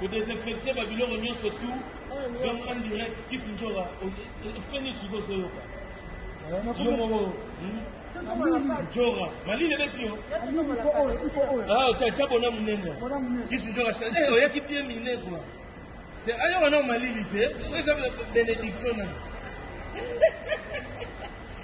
kodesinfecte babiloko nyonso tu donc en direct kisindjora ofeni siko ozoyoka yo moko njora malili ebeti yo tya bona monene kisindjora oyaki bie mine kua te ayoka nao malili te eza benediction nani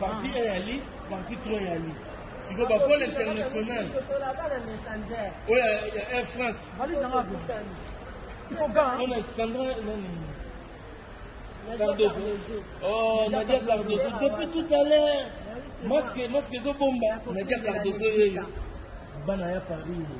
Parti A ya li, parti 3 ya li. Siko ba vol international. Oya ya Air France. Valise yango apo. Il faut gant. On a Sandra nani? Cardozo. Oh, Nadia Cardozo. Depuis tout à l'heure. Masque, masque ezo bomba. Nadia Cardozo yeyo. Bana ya Paris.